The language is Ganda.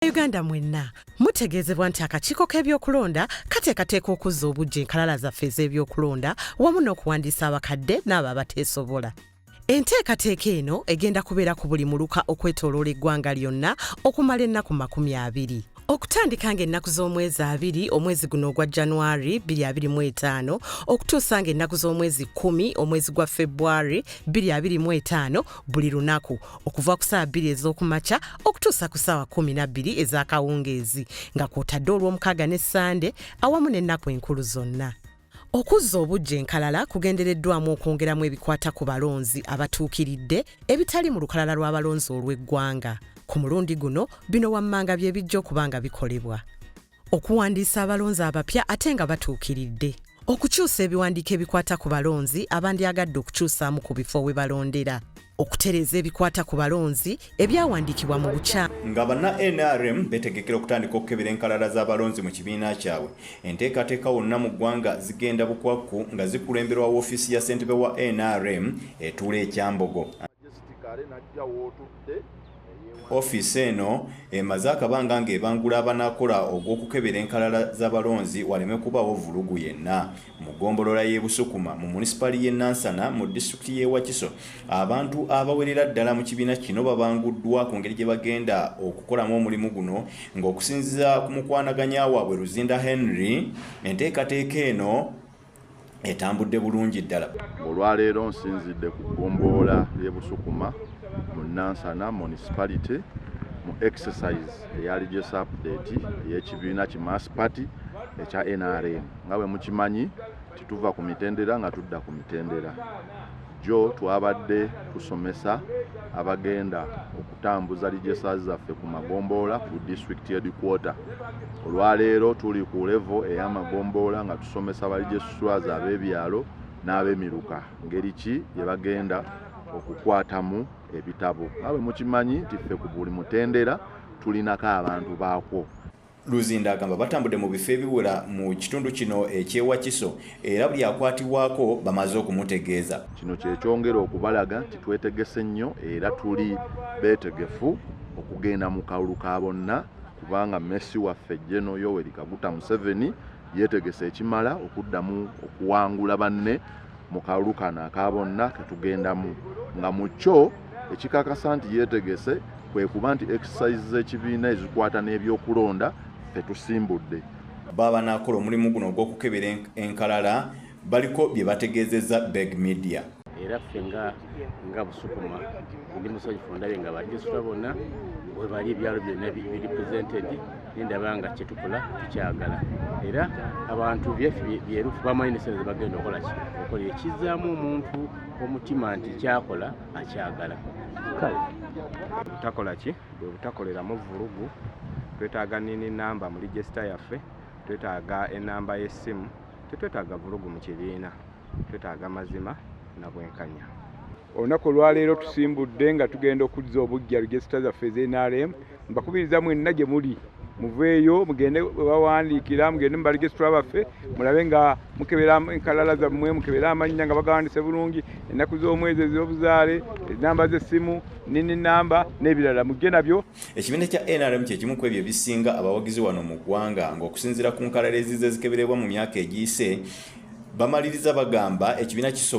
Bannayuganda mwenna mutegeezebwa nti akakiiko k'ebyokulonda kateekateeka okuzza obujja enkalala zaffe ez'ebyokulonda wamu n'okuwandiisa abakadde n'abo abateesobola. Enteekateeka eno egenda kubeera ku buli muluka okwetooloola eggwanga lyonna okumala ennaku makumi abiri. Okutandika ng'ennaku z'omwezi abiri omwezi guno ogwa January 2025 okutuusa ng'ennaku z'omwezi kkumi omwezi gwa February 2025 buli lunaku okuva ku saawa bbiri ez'okumakya okutuusa ku saawa kumi nabbiri ez'akawungeezi nga kwotadde olw'omukaaga ne ssande awamu n'ennaku enkulu zonna okuzza obujja enkalala kugendereddwamu okwongeramu ebikwata ku balonzi abatuukiridde ebitali mu lukalala lw'abalonzi olw'eggwanga ku mulundi guno bino wammanga bye bijja okuba nga bikolebwa okuwandiisa abalonzi abapya ate nga batuukiridde okukyusa ebiwandiiko ebikwata ku balonzi abandyagadde okukyusaamu ku bifo we balondera okutereeza ebikwata ku balonzi ebyawandiikibwa mu bukya nga banna nrm betegekera okutandika okukebera enkalala z'abalonzi mu kibiina kyabwe enteekateeka wonna mu ggwanga zigenda bukwakku nga zikulemberwa woofiisi ya ssentebe wa nrm etuula ekyambogo Ofiisi eno emaze akabanga ng'ebangula abanakola ogw'okukebera enkalala z'abalonzi waleme kubaawo vvulugu yenna. Mu ggombolola y'e Busukuma mu munisipaali y'e Nansana mu disitulikiti y'e Wakiso, abantu abawerera ddala mu kibiina kino babanguddwa ku ngeri gye bagenda okukolamu omulimu guno ng'okusinziira ku mukwanaganya waabwe Luzinda Henry, enteekateeka eno, etambudde bulungi ddala. Olwaleero nsinzidde ku ggombolola y'e Busukuma mu Nansana municipality mu exercise eya regious update ey'ekibiina ki Mass Party ekya NRM nga bwe mukimanyi tituva ku mitendera nga tudda ku mitendera. Jjo twabadde tusomesa abagenda okutambuza lijesas zaffe ku magombolola ku district headquarter olwaleero tuli ku levo ey'amagombolola nga tusomesa balijesiswaza ab'ebyalo n'abemiruka ngeri ki gye bagenda okukwatamu ebitabo nga bwe mukimanyi nti ffe ku buli mutendera tulinako abantu baakwo Luzinda agamba batambudde mu bifo ebiwera mu kitundu kino eky'e Wakiso era buli akwatibwako bamaze okumutegeeza. Kino kye kyongera okubalaga nti twetegese nnyo era tuli beetegefu okugenda mu kalulu ka bonna kubanga Mmesi waffe General Yoweri Kaguta Museveni yeetegese ekimala okuddamu okuwangula banne mu kalulu kano aka bonna ke tugendamu nga mu kyo ekikakasa nti yeetegese kwe kuba nti exercise z'ekibiina ezikwata n'ebyokulonda fe tusimbudde baba banaakola omulimu guno ogw'okukebera enkalala baliko bye bategeezezza beg media era ffe nga nga busukuma ndi musanyufu ndabye nga badisita bonna webali ebyalo byonna biripresentedi nendaba nga kyetukola tukyagala era abantu byaffe byerufu bamanyi nesente zebagenda okola ki okola ekizaamu omuntu omutima nti kyakola akyagala kale butakola ki bwe butakoleramu vulugu twetaaga nini namba mu ligisita yaffe twetaaga enamba y'essimu tetwetaaga vulugu mu kibiina twetaaga mazima na bwenkanya. Olunaku olwaleero tusimbudde nga tugenda okuzza obuggya regisita zaffe eza NRM. Mbakubiriza mwenna gye muli muveeyo mugende bawandiikira mugende mu baregisitula baffe mulabe nga mukebera enkalala zammwe mukebere amannya nga bagawandise bulungi ennaku z'omwezi ez'obuzaale enamba z'essimu nini namba n'ebirala mujje nabyo Ekibiina kya nrm kye kimu ku ebyo ebisinga abawagizi wano mu ggwanga ng'okusinziira ku nkalala ezizze zikeberebwa mu myaka egiyise bamaliriza bagamba ekibiina kisobola